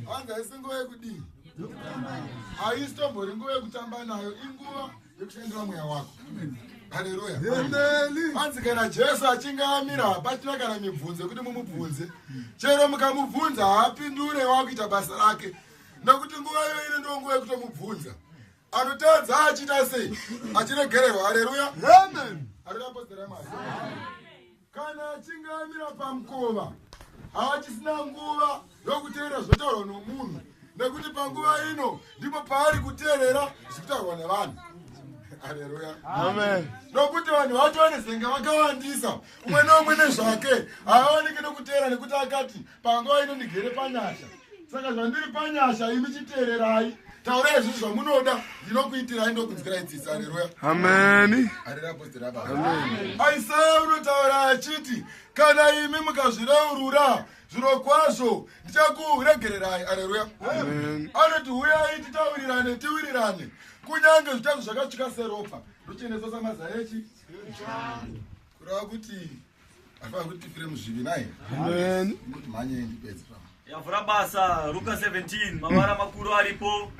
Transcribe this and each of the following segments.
hanzi haisi nguva yekudii haisi tombori nguva yekutamba nayo inguva yekushandira mweya wako haleluya hanzi kana jesu achinge amira hapachina kana mibvunzo yekuti mumubvunze chero mukamubvunza haapindure wakuita basa rake nokuti nguva iyo ine ndo nguva yekutomubvunza anotadza achita sei achiregererwa haleluya amen haleluya apostera mwari Kana achinge amira pamukova haachisina nguva yokuteerera zvinotaurwa nomunhu nekuti panguva ino ndipo paari kuteerera zvikutaurwa nevanhu aleluya amen nokuti vanhu vacho vanezenga vakawandisa umwe neumwe nezvake haaoneke nokuteera nekuti akati panguva ino ndigere panyasha saka zvandiri panyasha imi chiteererai taurai izvi zvamunoda ndinokuitirai ndokunzwirai tsitsi areruya ameni aisaya unotaura achiti kana imi mukazvireurura zviro kwazvo ndichakuregererai areruya anoti huyai titaurirane tiwirirane kunyange zvitazo zvakatsvika seropa ndochenesa samazaechi kureva kuti Afana kuti tifire muzvivi naye. Amen. Kuti manye ndipedze pa. Yavura basa Luka 17 mavara makuru aripo.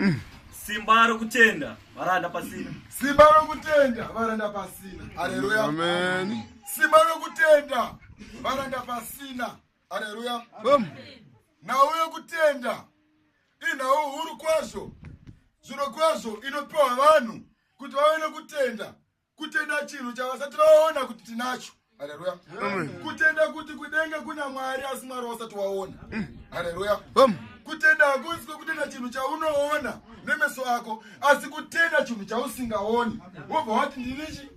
Simba rokutenda varanda pasina. Simba rokutenda varanda pasina. Haleluya. Amen. Simba rokutenda varanda pasina. Haleluya. Amen. Nhau yokutenda inhau huru kwazvo zviro kwazvo inopiwa vanhu kuti vave nokutenda kutenda chinhu chavasati vaona kuti tinacho haleluya kutenda kuti kudenga kuna mwari asi mwari wasati waona haleluya kutenda hakusi kwekutenda chinhu chaunoona nemeso ako asi kutenda chinhu chausingaoni wobva wati ndinichi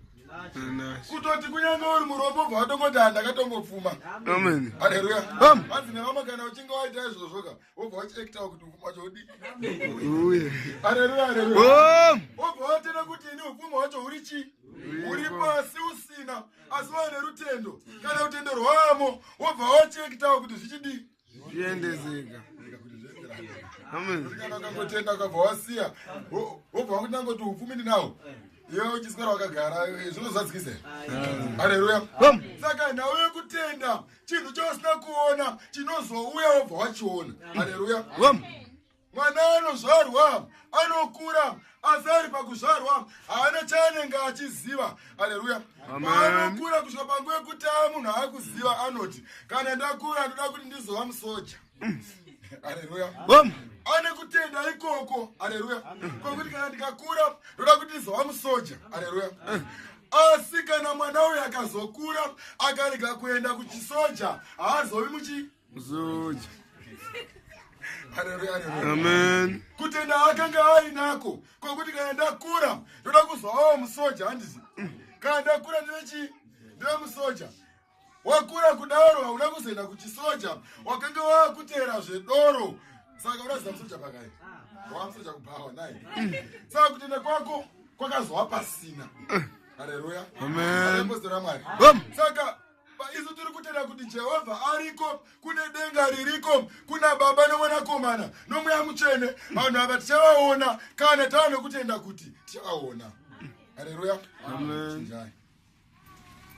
kutoti kunyange uri murombo bva watongoti handakatongopfuma haleluya hanzi nevamwe kana uchinge waita izvozvoka Obva wachiektawo kuti upfuma wacho udii? Haleluya, haleluya. Obva watenda kuti ini upfuma wacho huri chii? Huri pasi usina, asi waine rutendo. Kana rutendo rwamo, wobva wachiektawo kuti zvichidii? Zviendezeka. Kana ukangotenda ukabva wasiya, wo- wobva wakuti nangoti upfumi ndinawo. Iwe uchiswera wakagara, eh, zvinozadzikisa here? Haleluya. Saka nhau yekutenda chinhu chausina kuona chinozouya wobva wachiona haleluya mwana anozvarwa anokura asi ari pakuzvarwa haana chaanenge achiziva haleluya anokura kusvika panguva yekuti aa munhu aakuziva anoti kana ndakura ndoda kuti ndizova musoja Haleluya. Boom. Ane kutenda ikoko. Haleluya. Kwa kuti kana ndikakura ndoda kuti ndizova musoja. Haleluya. Asi kana mwana uyu akazokura akarega kuenda kuchisoja haazovi muchi musoja. Haleluya. Haleluya. Amen. Kutenda akanga ainako kwa kuti kana ndakura ndoda kuzovawo musoja handizi. Kana ndakura ndive chi ndive musoja. wakura kudaro hauna kuzoenda kuchisoja wakanga wakuteera zvedoro saka unaziva musoja pakai wamusoja kubhawa naye saka kutenda kwako kwakazova pasina hareruya aepostora mwari saka isu tiri kutenda kuti jehovha ariko kune denga ririko kuna baba nomwanakomana nomweya mutsvene vanhu ava tichavaona kana tava nokutenda kuti tichavaona hareruya chinjai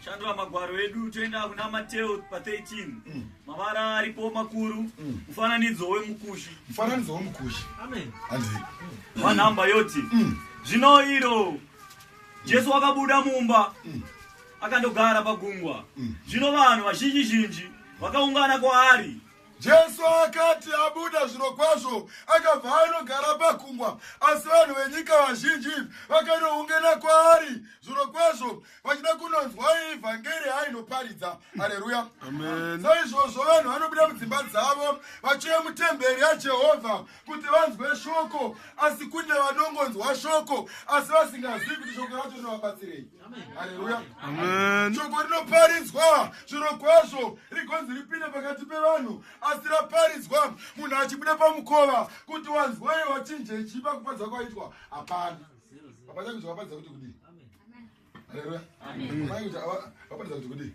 shandura magwaro edu toenda kuna mateo pa 13 mm. mavara aripo makuru mm. mufananidzo wemukushi mufananidzo wemukushi amen panhamba mm. yoti mm. zvino iro jesu wakabuda mumba mm. akandogara pagungwa mm. zvino vanhu vazhinji zhinji vakaungana kwaari Jesu akati abuda zviro kwazvo akabva anogara pakungwa asi vanhu venyika vazhinji vakanoungana kwaari zviro kwazvo vachida kunonzwa ivhangeri ainoparidza hareruya saizvozvo vanhu vanobuda mudzimba dzavo vachiuya mutemberi yajehovha kuti vanzwe shoko asi kune vanongonzwa shoko asi vasingazivi kuti shoko racho rinovabatsirei haleluya shoko rinoparidzwa zviro kwazvo rigonzi ripinde pakati pevanhu asi raparidzwa munhu achibuda pamukova kuti wanzwai wachinje chipa kupadza kwaitwa hapana hapana kuti vapadza kuti kudii haleluya vapadza kuti kudii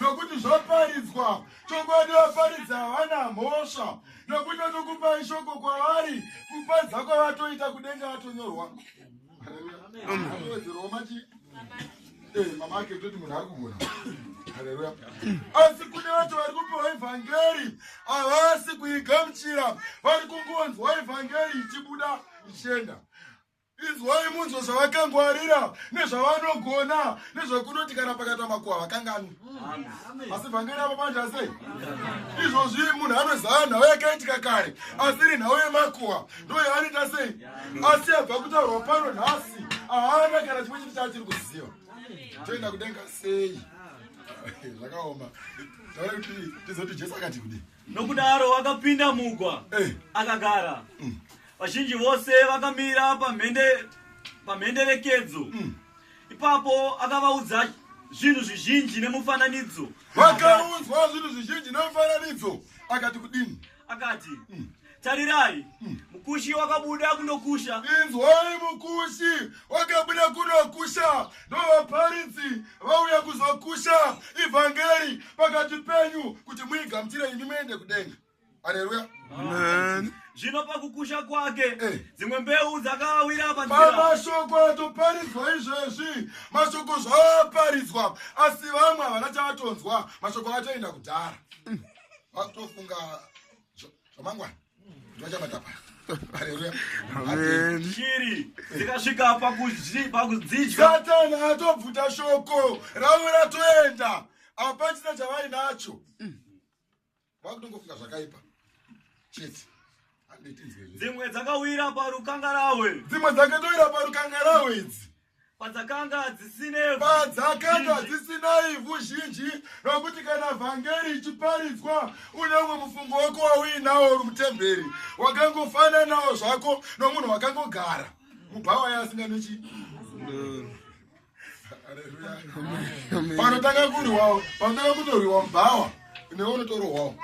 nokuti zvaparidzwa chokwadi vaparidzi havana mhosva nokuti vatokupa ishoko kwavari kuparidza kwavatoita kudenga vatonyorwa eh, mamake toti munhu ari kugona haleluya asi kune vacho vari kupiwa evhangeri havasi kuigamuchira vari kungonzwa evhangeri ichibuda ichienda Inzwai munzwe zvavakangwarira nezvavanogona nezvakunoti kana pakatama kuwa vakanganwi. Asi vhangeri avo manje asei? Izvozvi munhu anoziva nhau yakaitika kare asi iri nhau yemakuwa ndoyo anoita sei? Asi abva kutaurwa pano nhasi haana kana chimwe chiti chaachiri kuziva. Toenda kudenga sei? Zvakaoma. Taura kuti tizoti Jesu akati kudii? Nokudaro wakapinda mugwa eh. akagara. Mm. Vazhinji vose vakamira pamhende pamhenderekedzo. Mm. Ipapo akavaudza zvinhu zvizhinji nemufananidzo. Wakaudzwa zvinhu zvizhinji nemufananidzo akati kudini? Akati mm. Tarirai, hmm. mukushi wakabuda kunokusha. Inzwai, mukushi wakabuda kunokusha, ndovaparidzi vauya kuzokusha ivhangeri pakati penyu kuti muigamuchire imi muende kudenga. Haleluya. Amen. Zvino pakukusha kwake eh. dzimwe mbeu dzakawira panzira. Mashoko atoparidzwa izvezvi, mashoko zvaparidzwa, asi vamwe havana chavatonzwa, mashoko atoenda kudhara. Vatofunga zvamangwana ndovachabata paya shiri dzikasvika pakudzidya atobvuta shoko ravo ratoenda apachina chavainacho vakutongofunga zvakaipa chete dzimwe dzakawira parukangarahwe dzimwe dzakatowira parukangarahwe idzi padzakanga dzisina ivhu zhinji nokuti kana vhangeri ichiparidzwa uneumwe mufungo wako wauinawo uri mutemberi wakangofananawo zvako nomunhu wakangogara mubhawa yaasinga nechi panotanga kurwiwawo panotanga kutorwiwa mubhawa newe unotorohwawo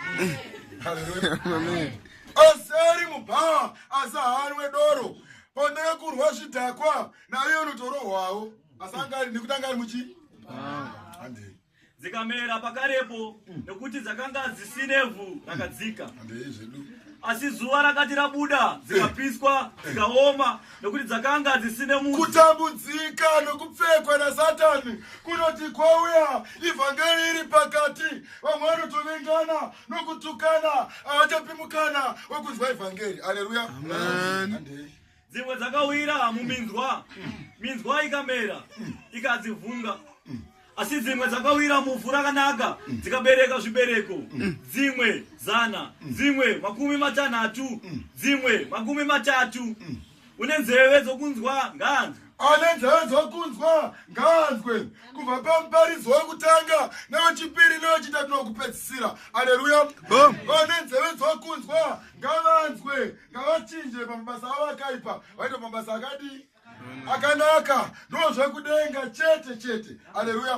aseri mubhawa asi haanwe doro Pane kurwa zvidhakwa naye unotorohwawo asi anga ari nekuti anga ari muchi handei dzikamera pakarepo nekuti dzakanga dzisinevhu rakadzika handei zvedu asi zuva rakati rabuda dzikapiswa dzikaoma nekuti dzakanga dzisine mudzi kutambudzika nokupfekwa nasatani kunoti kwauya ivhangeri iri pakati vamwe vanotovengana nokutukana haachapi mukana wekunzwa evhangeri aleluya dzimwe dzakawira muminzwa minzwa ikamera ikadzivhunga asi dzimwe dzakawira muvhu rakanaka dzikabereka zvibereko dzimwe zana dzimwe makumi matanhatu dzimwe makumi matatu une nzeve dzokunzwa ngaanzwe ane nzeve dzokunzwa ngaanzwe kubva pamuparidzo wekutanga newechipiri newechitatu nokupedzisira aleluya vane nzeve dzokunzwa ngavanzwe ngavachinje pamabasa avo akaipa vaita mabasa akadii akanaka ndozvekudenga chete chete aleluya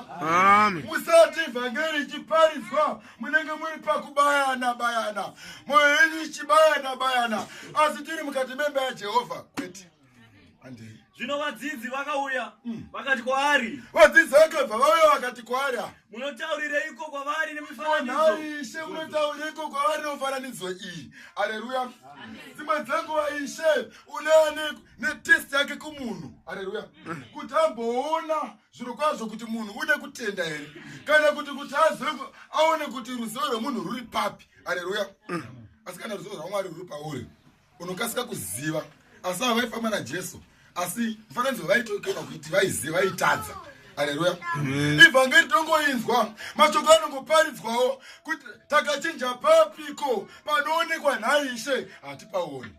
musati vhangeri ichiparidzwa munenge muri pakubayana bayana moyo yenyu ichibayana bayana asi tiri mukati memba yajehovha kwete andei zvino vadzidzi vakauya mm. vakati kwaari vadzidzi vakabva vauya vakati kwaari ah. munotaurireiko kwavari nemifananizoishe munotaurireiko kwavari nemufananidzo iyi aleluya dzimwe dzenguva ishe unea netest yake kumunhu aleluya mm. kuti amboona zvirokwazvo kuti munhu ude kutenda here kana kuti kuti azive aone kuti ruzivo rwemunhu ruri papi aleluya asi kana ruzivo rwamwari ruri pauri unokasika kuziva asi ava vaifamba najesu asi mufananidzo vaitokena kuti vaiziva vaitadza aleluya ivhangeri tongoinzwa mashoko anongoparidzwawo kuti takachinja papiko panoonekwa nhaishe hatipaoni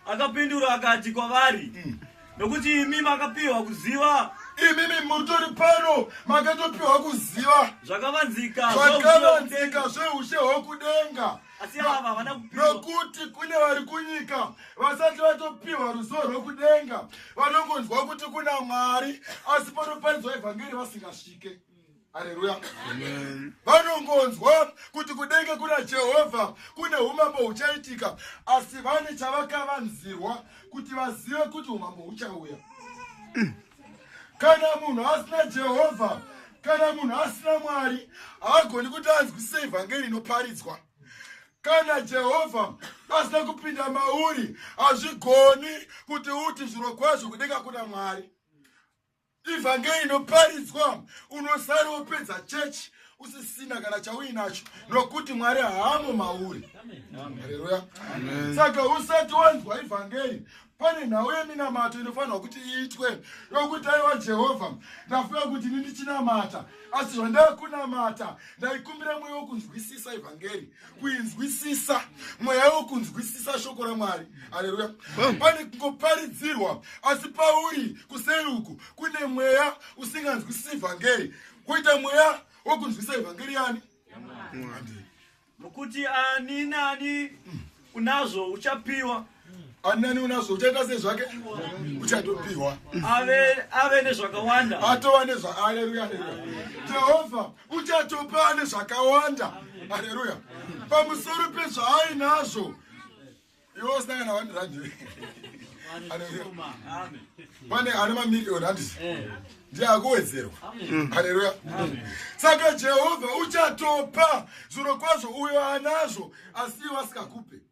akapindura akati kwavari mm. nokuti imi makapiwa kuziva imimi mutori pano makatopiwa kuziva zvakavanzika zvakavanzika zveushe hwokudenga nokuti kune vari kunyika vasati vatopiwa ruzivo rwokudenga vanongonzwa kuti kuna mwari asi panoparidzwa evhangeri vasingasvike haleluya vanongonzwa kuti kudenga kuna jehovha kune umambo huchaitika asi vane chavakavanzirwa kuti vazive kuti umambo huchauya kana munhu asina jehovha kana munhu asina mwari haagoni kuti anzwisise evhangeri inoparidzwa kana jehovha asina kupinda mauri hazvigoni kuti uti zviro kwazvo kudenga kuna mwari ivhangeri inoparidzwa unosara wopedza chechi usisina kana chauinacho nokuti mwari haamo mauri haleluya saka usati wanzwa ivhangeri pane nhau yeminamato inofanirwa kuti iitwe yokuti aiwa jehovha ndafunga kuti ini ndichinamata asi zvandakunamata ndaikumbira mweya wokunzwisisa ivhangeri kuinzwisisa mweya wekunzwisisa shoko ramwari aleluya pane kungoparidzirwa asi pauri kuseri uku kune mweya usinganzwisisi vhangeri kuita mweya wokunzwisisa ivhangeri yani nokuti ani naani unazvo uchapiwa anani unazvo uchaita sei zvake uchatopiwa ave nezvakawanda atova nezvaaleluya jehovha uchatopa ane zvakawanda aleluya pamusoro pezvaainazvo iwe usangana vanhu radio pane ane mamiriyoni handisi eh. ndiye akuwedzerwa hareruya saka jehovha uchatopa zviro kwazvo uyo anazvo asi iwe asikakupe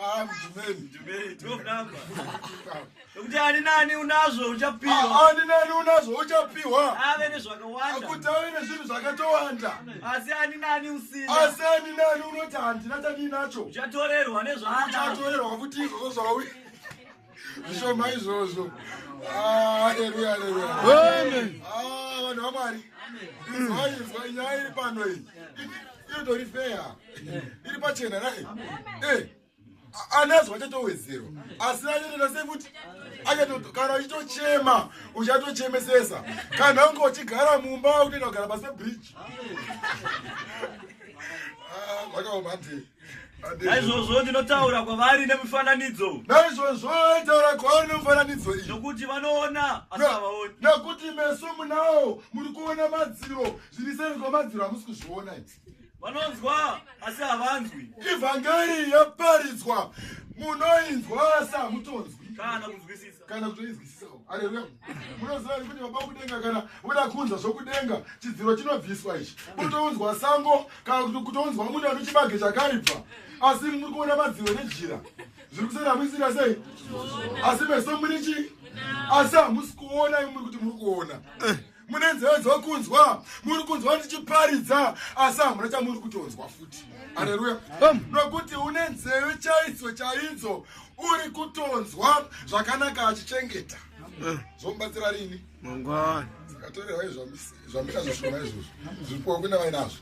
Ah, kuti ani nani unazvo uchapiwa ah, ani nani unazvo uchapiwa ave nezvakawanda kuti ave nezvinhu zvakatowanda asi ani nani usina asi ani nani unoti handina chandinacho uchatorerwa nezvauchatorerwa kuti izvozvo zvauya zvishoma izvozvo ah, aleluya aleluya ah, vanhu vamwari izwaizwa nyaya iri pano iyi inotori feya iri pachena nai eh, anazwa achatowedzerwa asi achatoita sekuti kana uchitochema uchatochemesesa kana unge uchigara mumba utoenda kugara pase bridge ah, zvakaoma ndii naizvozvo ndinotaura kwavari nemufananidzo naizvozvo taura kwavari nemufananidzo iyi nokuti vanoona asi havaoni nokuti meso munawo muri kuona madziro zviri seri kwamadziro hamusi kuzviona vanonzwa asi havanzwi ivhangeri yaparidzwa munoinzwa asi hamutonzwi kana kunzwisisa kana kutoinzwisisawo areruya munoziva ri kuti baba kudenga kana voda kunzwa zvokudenga chidziro chinobviswa ichi kutounzwa sango kana kuti kutounzwa munhu ano chibage chakaibva asi muri kuona madziro nejira zviri kusera muisira sei asi meso muri chii asi hamusi kuona imuri kuti muri kuona eh. mune nzeve dzokunzwa muri kunzwa ndichiparidza asi hamuna chamuri kutonzwa futi aleluya nokuti une nzeve chaidzo chaidzo uri kutonzwa zvakanaka achichengeta zvomubatsira rini mangwana zvikatorewa izvamira zvishoma izvozvo zvipuwa kuna vainazvo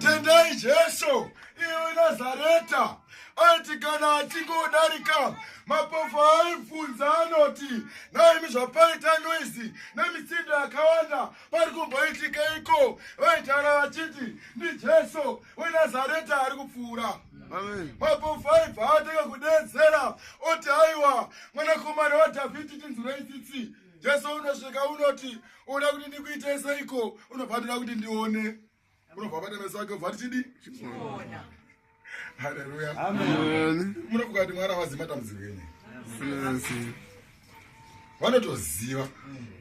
tendai jesu iwe nazareta aiti kana achingodarika mapofu aibvunza anoti naimi zvapaita noizi nemitsindo yakawanda pari kumboitika iko vaitaura vachiti ndijesu wenazareta ari kupfuura mapofu aibva atanga kudedzera oti aiwa mwanakomana wadhavhidhi tinzwirei tsitsi jesu unosvika unoti unoda kuti ndikuitei seiko unobva ndoda kuti ndione unobva bata meso ake ubva tichidi haleluya munofunga kuti mwana avazivi matambudziko enye vanotoziva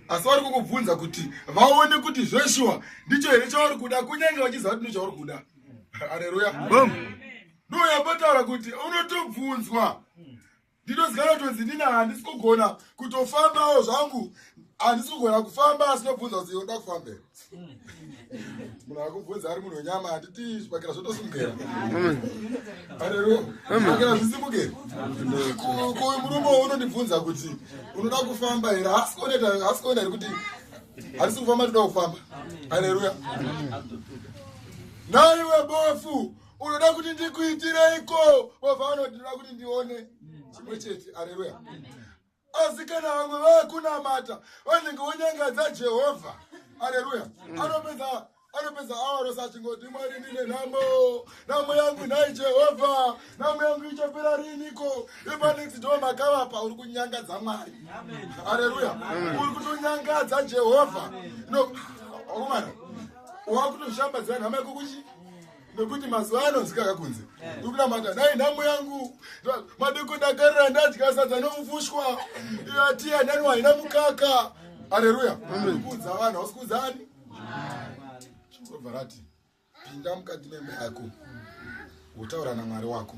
asi vari kukubvunza kuti vaone kuti zveshuwa ndicho here chauri kuda kunyange vachiziva kuti ndochauri kuda haleluya ndoyambotaura kuti unotobvunzwa ndinoziva notonzi ndini handisi kugona kutofambawo zvangu handisi kugona kufamba asi nobvunza kuti yoda kufambei munhu akubvunza ari munhu wenyama handiti zvipakira zvotosimukera areruwa zvipakira zvisimukeri kuyu murume unondibvunza kuti unoda kufamba here hasi kuoneta hasi kuoneta here kuti handisi kufamba toda kufamba aleluya naiwe bofu unoda kuti ndikuitireiko wabva vanoti ndoda kuti ndione chimwe chete areruya asi kana vamwe vakunamata vanenge vonyangadza jehovha areruya anopedza anopedza awa rose achingoti mwari ndine nhamo nhamo yangu nhai jehovha nhamo yangu ichapera riiniko ipanext do makavapa uri kunyangadza mwari areruya uri kutonyangadza jehovha no orumana wakutoshambadzira nhamo yako kuchi nekuti mazuva anonzikaka kunze ndikunamata nai nhamo yangu madeko dakarira ndadya sadza nomufushwa ati anani waina mukaka areruya kuudza vanhu hausi kuudza ani zvinovharati pinda mukati memba yako wotaura namwari wako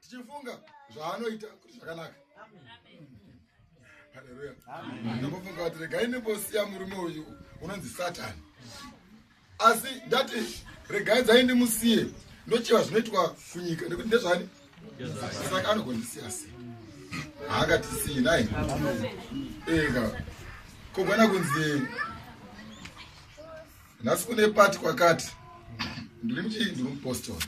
tichifunga zvaanoita kuti zvakanaka haleluya ndambofunga kuti regai ndimbosiya murume uyu unonzi satani asi ndati regai dzai ndimusiye ndochiva zvinoitwa kunyika nekuti ndezvani saka anogondisiya sei haangatisiyi nai ega kogona kunzi nhasi kune pati kwakati ndiri muchii ndiri mupostori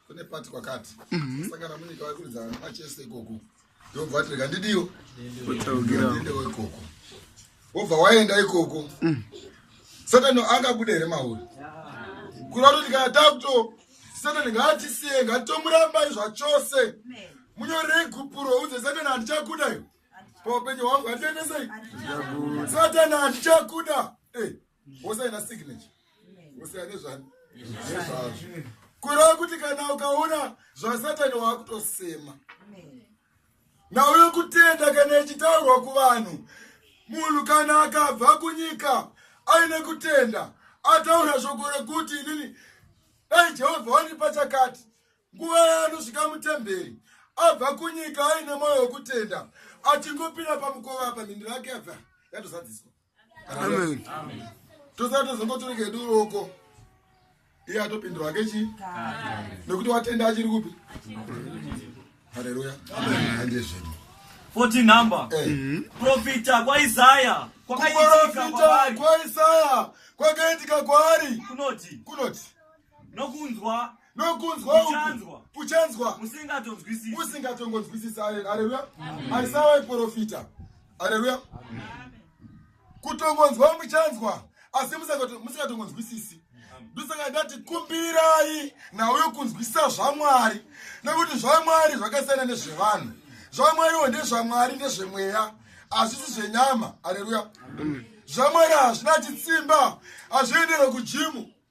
kune pati kwakati mhm. sangana munyika vaikuridza vana machese ikoko ndobva tirika ndidiyo ndewo ikoko wobva waenda ikoko mm. satani angabude here mauri kureva kuti kana takuto satani ngaatisiye ngatomurambai zvachose munyorei gupuro udze satani handichakuda iyo paupenyu hwangu handiendesei satani handichakuda eh, ose aina signature ose ane zvani nezvazvo kureva kuti kana ukaona zvasatani waakutosema nauyo kutenda kana ichitaurwa kuvanhu munhu kana akabva kunyika aine kutenda ataura shoko rekuti inini dai jehovha wandipa chakati nguva yaanosvika mutemberi abva kunyika aine mwoyo wekutenda achingopinda pamukova apa mhindiro yake yabva yatozadziswa amen tosara tozongotoreka edu roko iye atopindura hake chii nekuti watenda achiri kupi haleluya andie zvedu 14 number eh. mm-hmm. profita kwaisaya kwakaitika kwaisaya kwakaitika kwaari kunoti kunoti nokunzwa nokunzwa uchanzwa uchanzwa usingatonzwisisi usingatongonzwisisi haleluya aisawa iprofita haleluya kutongonzwa muchanzwa asi musingatongonzwisisi ndosaka ndati kumbirai nawo yokunzwisisa zvamwari nekuti zvamwari zvakasiyana nezvevanhu zvamwariwo ndezvamwari ndezvemweya hazvisi zvenyama haleluya zvamwari hazvina chitsimba hazviendere kujimu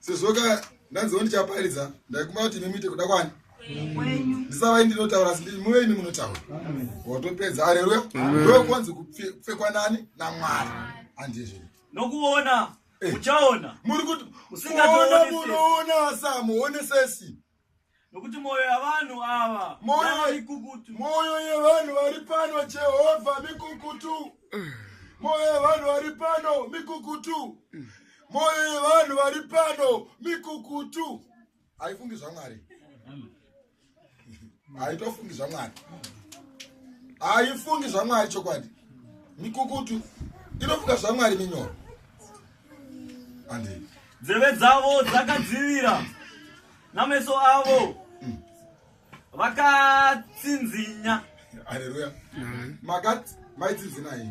sezvoka ndanziwo ndichaparidza ndaikuma kuti imi muite kuda kwani ndisavai ndinotaura asi ndii muve imi munotaura watopedza areruya ndokonzi kupfekwa nani namwari andizvo nokuona eh. uchaona muri kuti usingaona munoona samuonesesi nokuti mwoyo yavanhu ava Mwoyo- mikukutu mwoyo yevanhu vari pano jehovha mikukutu mwoyo yevanhu vari pano mikukutu mwoyo yevanhu vari pano mikukutu haifungi zvamwari haitofungi zvamwari haifungi zvamwari chokwadi mikukutu inofunga zvamwari minyoro nzeve dzavo dzakadzivira nameso avo mm. vakatsinzinya haleluya mm. makat maitsinzinai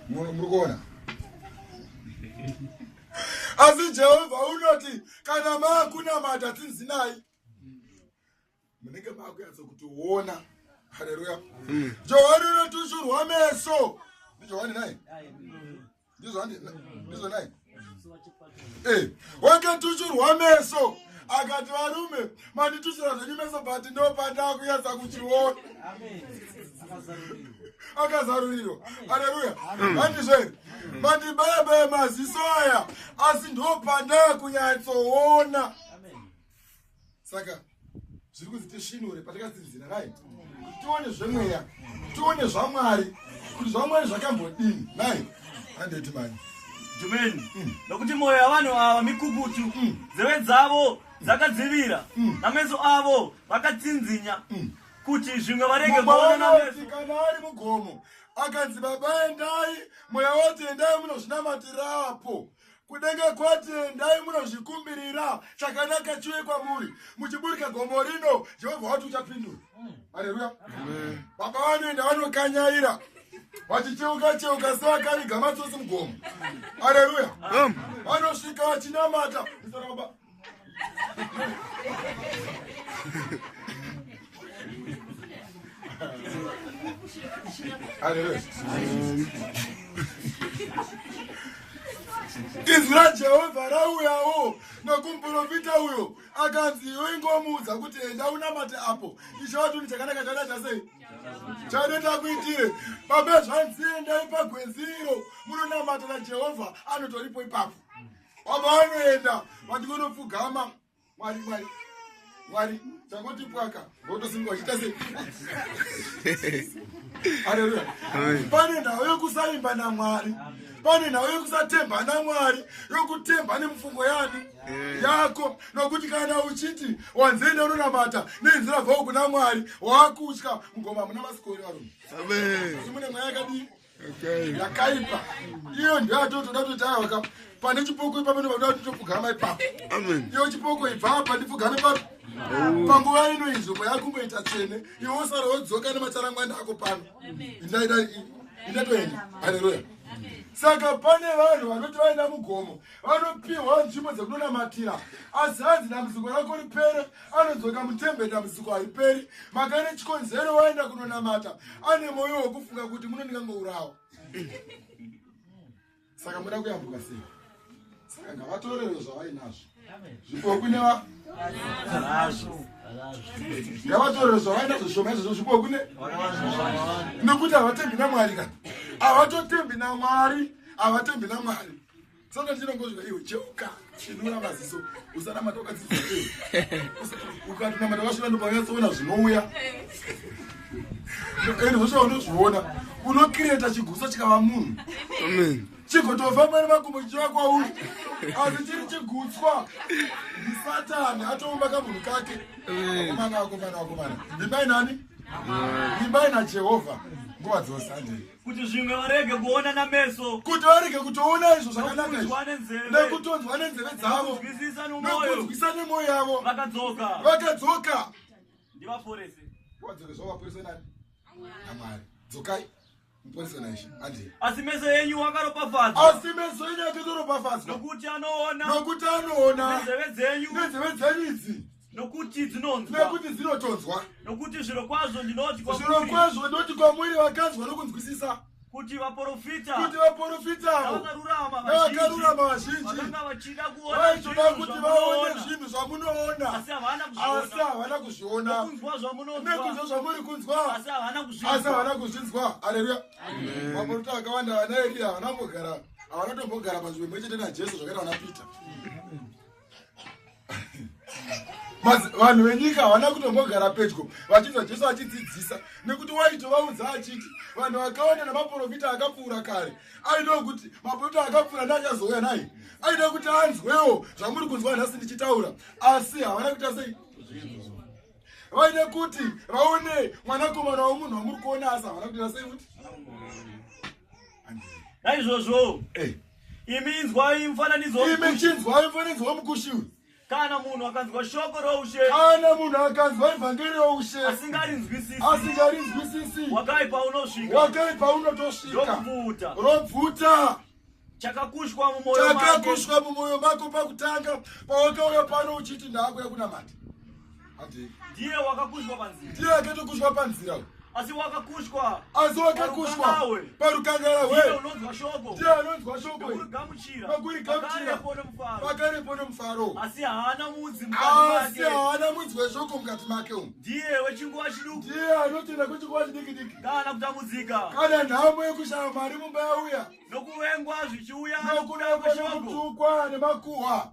muri kuona asi jehovha unoti kana maakunamata tsinzinai munenge makunyatsa kuti uona haleluya hmm. johani unotushurwa meso ndijohani naye ndizvo naye eh, wakatushurwa meso akati varume manditushura zvenyu meso but ndopatakunyatsa kuchiona akazarurirwa aleluya andizve hmm. mandibayabaya maziso aya asi ndopanda kunyatsoona saka zviri kunzi tisvinure patakatsinzira nai tione zvemweya tione zvamwari kuti zvamwari zvakambodini nai andeti mani jumeni mm. nokuti mwoyo yavanhu ava mikukutu mm. dzeve dzavo dzakadzivira mm. nameso avo vakatsinzinya kuti zvimwe varege kuona nameso kana ari mugomo akanzi baba endai mweya woti endai munozvinamatirapo kudenga kwati endai munozvikumbirira chakanaka chiuye kwamuri muchiburika gomo rino jehovha wati uchapindura hmm. aleluya baba vanoenda vanokanyaira vachicheuka cheuka sevakaviga matsosi mugomo aleluya vanosvika vachinamata izwi rajehovha rauyawo nokumprofita uyo akanzi iyo ingomuudza kuti enda unamate apo ichovatunhu chakanaka chada chasei chadeta kuitire babezvanziendai pagwenziro munonamata najehovha anotoripo ipapo baba vanoenda vati vonopfugama mwari mwari mwari changoti pwaka votosimuka vachiita sei haleluya pane nhau yokusaimba namwari pane nhau yokusatemba namwari yokutemba nemufungo yani eh. yako nokuti kana uchiti wanzenda unonamata nenzira bvao kuna mwari wakutya mugoma muna masikori varume mune mweya yakadii yakaipa iyo ndiyo atotoda kuti tayawaka pane chipoko ipapo ndovanoda kuti topfugama ipapo iyo chipoko ibva apa ndipfugame papo panguva ino inzvimbo yakumboita tsvene iwe wosara wodzoka nemacharangwanda ako pano indaida indatoenda haleluya saka pane vanhu vanoti vaenda mugomo vanopiwa nzvimbo dzekunonamatira asi hanzi dambudziko rako ripere anodzoka mutembe dambudziko hariperi maka ine chikonzero waenda kunonamata ane mwoyo wekufunga kuti muno ndingangourawa saka muda kuyambuka sei saka ngavatorewo zvavainazvo zvipoku neva ngavatorewo zvavainazvo zvishoma izvozvo zvipoku ne nekuti havatembi namwari kani havatotembi namwari havatembi namwari Saka chinongo zvika iwe cheuka chinura maziso usanamata ukadzidzisa iwe ukatinamata vasvira ndopanyatsoona zvinouya ende zvosvika unozviona unokireta chigusa chikava munhu chigotofamba nemakumbo chichiva kwauri asi chiri chigutswa ndisatani atoumba kamunhu kake akomana akomana akomana ndimbai nani ndimbai najehovha nguva dzose andei kuti zvimwe varege kuona nameso kuti varege kutoona izvo zvakanaka nekutonzwa nenzeve dzavo nekunzwisa nemwoyo yavo vakadzoka vakadzoka ndivaporese wadzore zvovaporese nani namwari dzokai muporese naishe andie asi meso enyu wakaropafadzwa asi meso enyu akazoropafadzwa nokuti anoona nokuti anoona nenzeve dzenyu nenzeve dzenyu idzi nokuti dzinonzwa nekuti dzinotonzwa nokuti zviro kwazvo ndinoti kwamuri zviro kwazvo ndinoti kwamuri vakanzwa nokunzwisisa kuti vaporofita kuti vaporofitawo navakarurama vazhinji vaitoda kuti vaone zvinhu zvamunoona asi havana kuzviona nekunzwa zvamuri kunzwa asi havana kuzvinzwa aleluya maporofita akawanda vana eriya havana mbogara havana tombogara panzvimbo imwe chete najesu zvakaita vana peter vanhu venyika havana kutombogara pedyo vachinzwa jesu achidzidzisa nekuti waitovaudza achiti vanhu vakawanda nemaprofita akapfuura kare aidawo kuti maprofita akapfuura neachazouya naye aida kuti anzwewo zvamuri kunzwa nhasi ndichitaura asi havana kuita sei vaida kuti vaone mwanakomana womunhu wamuri kuona asi havana kuita sei futi naizvozvo eh. imi inzwai mufananidzo imi chinzwai mufananidzo wemukushi uyu kana munhu akanzwa shoko roushe kana munhu akanzwa evhangeri roushe asingarinzwisisi asingarinzwisisi wakaipa unosvika wakaipa unotosvika robvuta robvuta chakakushwa mumoyo chakakushwa mumoyo mako pakutanga pawakauya pano uchiti ndaakuya kunamata ndiye wakakushwa panzira ndiye akatokushwa panzira asi wakakushwa asi wakakushwa parukangala hwee unonzwa shoko ndiye anonzwa shoko pakurigamuchira pakurigamuchira pakarepo nomufaro asi haana mudzi asi haana mudzi weshoko mukati make umu ndiye wechinguva chiduku ndiye anotenda kwechinguva chidikidiki kana kutambudzika kana nhamo yekushaya mari mumba yauya nokuvengwa zvichiuya nokuda kweshoko nokutukwa nemakuhwa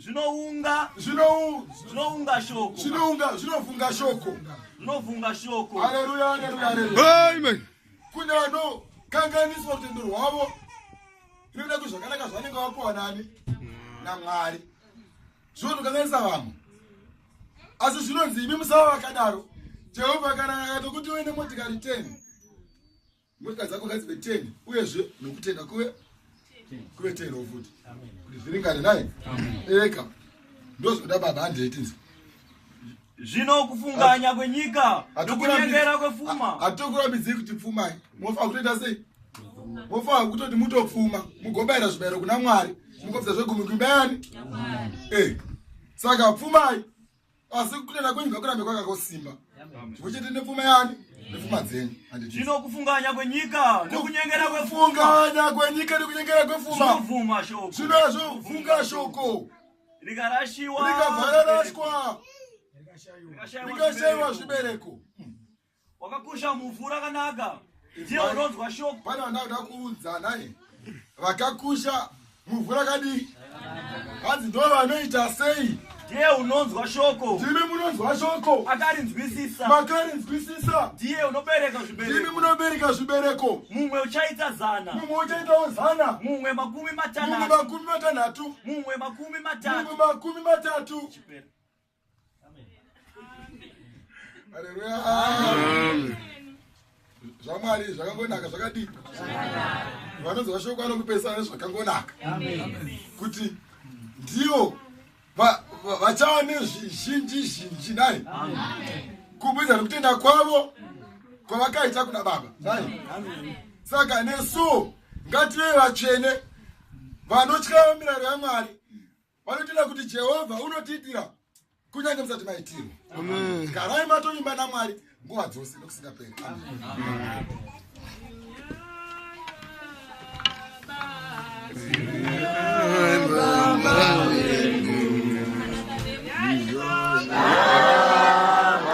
zvinounga zvinounga shoko zvinounga zvinovhunga shoko zvinovhunga shoko haleluya haleluya haleluya amen kune vano kanganiswa rutendo rwavo rinoda kuti zvakanaka zvanenge vapiwa nani namwari zvinotokanganisa vamwe asi zvinonzi imi musava vakadaro jehovha kana akatokuti uine motikari 10 Mota dzako ngadzive 10 uyezve nokutenda kuve kuve 10 wo futi kuti zviringane naye eka ndozvoda baba handiitinzi zvino kufunganya kwenyika nokunyengera kwepfuma hatokurambidzei kuti pfumai mofa kutoita sei mofa kutoti mutopfuma mugobayira zvibayiro kuna mwari mukobvisa zvegumi kubayani e eh, saka pfumai asi kutenda kwenyu ngakurambe kwakakosimba chimwe chete nepfuma yani nepfuma dzenyu zvino kufunganya kwenyika nekunyengera kwefunganya kwenyika nekunyengera kwefumavuma shoko zvino zvovunga shoko rikarashiwa rikavhararashwa rikashaiwa zvibereko wakakusha muvhu rakanaka ndiye unonzwa shoko pane vandauda kuudza naye vakakusha muvhu rakadii hanzi ndo vanoita sei ndiye unonzwa shoko ndimi munonzwa shoko akarinzwisisa makarinzwisisa ndiye unobereka zvibereko ndimi munobereka zvibereko mumwe uchaita zana mumwe uchaitawo zana mumwe makumi matanatu mumwe makumi matanhatu mumwe makumi matatu mumwe makumi matatu Chipera. zvamwari zvakangonaka zvakadii vanonzi vashoko anokupesana nezvakangonaka kuti ndivo vachava nezvizhinji zhinji nai kubudza nekutenda kwavo kwavakaita kuna baba nai saka nesu ngative vatsvene vanotyawo mirayiro yamwari vanotenda kuti jehovha unotiitira kunyange musati maitirwa garai matovimba namwari nguva dzose nokusingaperi